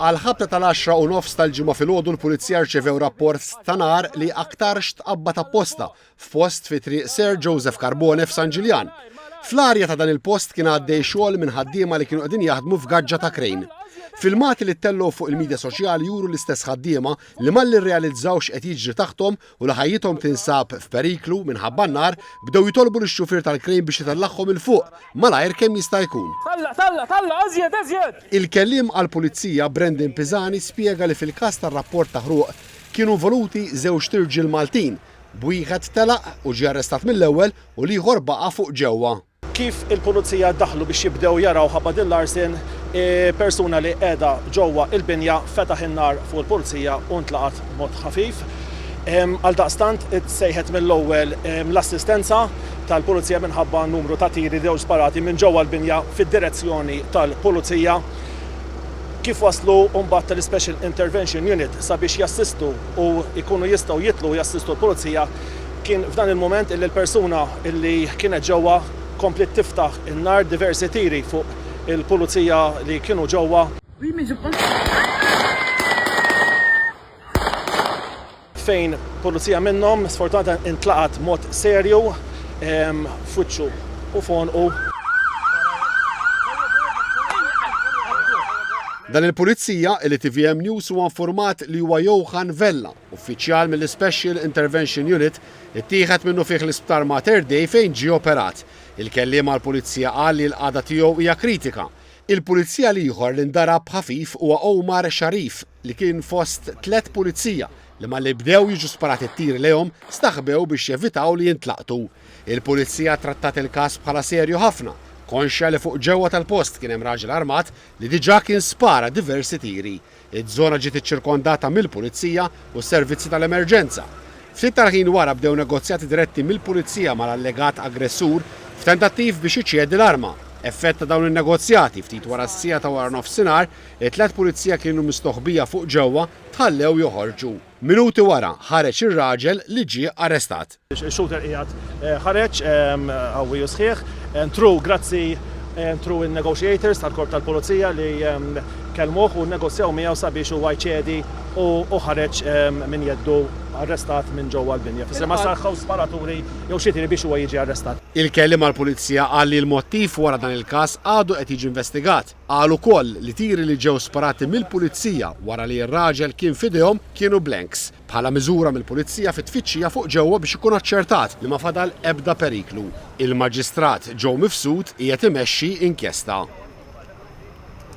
Għall-ħabta tal-għaxra u nofs tal-Ġimgħa filgħodu l-Pulizija rċevew rapport ta' nar li aktarx tqabbad apposta f'post fi Triq Sir Joseph Carbone f'San Ġiljan. Fl-arja ta' dan il-post kien għaddej xogħol minn ħaddiema li kienu qegħdin jaħdmu f'gaġġa ta' krejn. Filmati li ttellgħu fuq il-midja soċjali juru l-istess ħaddiema li malli rrealizzawx qed jiġri taħthom u li ħajjithom tinsab f'periklu minħabba n-nar, bdew jitolbu lix-xufier tal-krejn biex itellagħhom 'il fuq malajr kemm jista' jkun. Tella', tella', tella' eżjed, eżjed! Il-Kelliem għall-Pulizija Brendan Pisani spjega li fil-każ tar-rapport ta' ħruq kienu involuti żewġt irġiel Maltin, b'wieħed telaq u ġie arrestat mill-ewwel u l-ieħor baqa' fuq ġewwa. Kif il-Pulizija daħlu biex jibdew jaraw ħabba din l-arsen, persuna li qiegħda ġewwa il-binja fetaħ in-nar fuq il-Pulizija u ntlaqat b'mod ħafif. Għaldaqstant itsejħet mill-ewwel l-assistenza tal-Pulizija minħabba numru ta' tiri li ġew sparati minn ġewwa l-binja fid-direzzjoni tal-Pulizija. Kif waslu mbagħad l-Special Intervention Unit sabiex jassistu u jkunu jistgħu jitlu jassistu l-Pulizija, Kien f'dan il-mument illi l-persuna illi kienet ġewwa kompliet tiftaħ in-nar diversi tiri fuq il-pulizija li kienu ġewwa, fejn pulizija minnhom sfortunatament intlaqat b'mod serju f'wiċċu u f'għonqu. Dan il-pulizija illi tvm News huwa infurmat li huwa Johan Vella. Uffiċjal mill-Ispecial Intervention Unit ittieħed minnufih l-Isptar Mater Dei fejn ġie operat. Il-kelliem għall-Pulizija qal li l-qagħda tiegħu hija kritika. Il-Pulizija l-ieħor li ndarab ħafif huwa Omar Sharif li kien fost tliet Pulizija li malli bdew jiġu sparati t-tiri lejhom staħbew biex jevitaw li jintlaqtu. Il-Pulizija trattat il-każ bħala serju ħafna, konxja li fuq ġewwa tal-post kien hemm raġel armat li diġà kien spara diversi tiri. Iż-żona ġiet iċċirkondata mill-Pulizija u s-servizzi tal-emerġenza. Ftit tal-ħin wara bdew negozjati diretti mill-Pulizija mal-allegat aggressur f'tentattiv biex iċedi l-arma. Effett ta' dawn in-negozjati, ftit wara s-siegħa ta' waranofsinhar, it-tliet Pulizija kienu mistoħbija fuq ġewwa tħallew joħorġu. Minuti wara, ħareġ ir-raġel li ġie arrestat. Shooter qiegħed ħareġ qawwi u sħiħ. Ntru grazzi ntru n-negotiators tal-Korp tal-Pulizija li kellmuh u nnegozjaw miegħu sabiex huwa jċedi u ħareġ minn jeddu arrestat minn ġewwa l-binja. Fisser ma sar ħaw sparaturi jew xi tiri biex huwa jiġi arrestat. Il-Kelliem għall-Pulizija qal li l-mottiv wara dan il-każ għadu qed jiġi investigat. Qal ukoll li tiri li ġew sparati mill-Pulizija wara li r-raġel kien f'idejhom kienu blanks. bħala miżura mill-Pulizija fi tfittxija fuq ġewwa biex ikun aċċertat li ma fadal ebda periklu. Il-Maġistrat Joe Mifsud qiegħed imexxi inkjesta.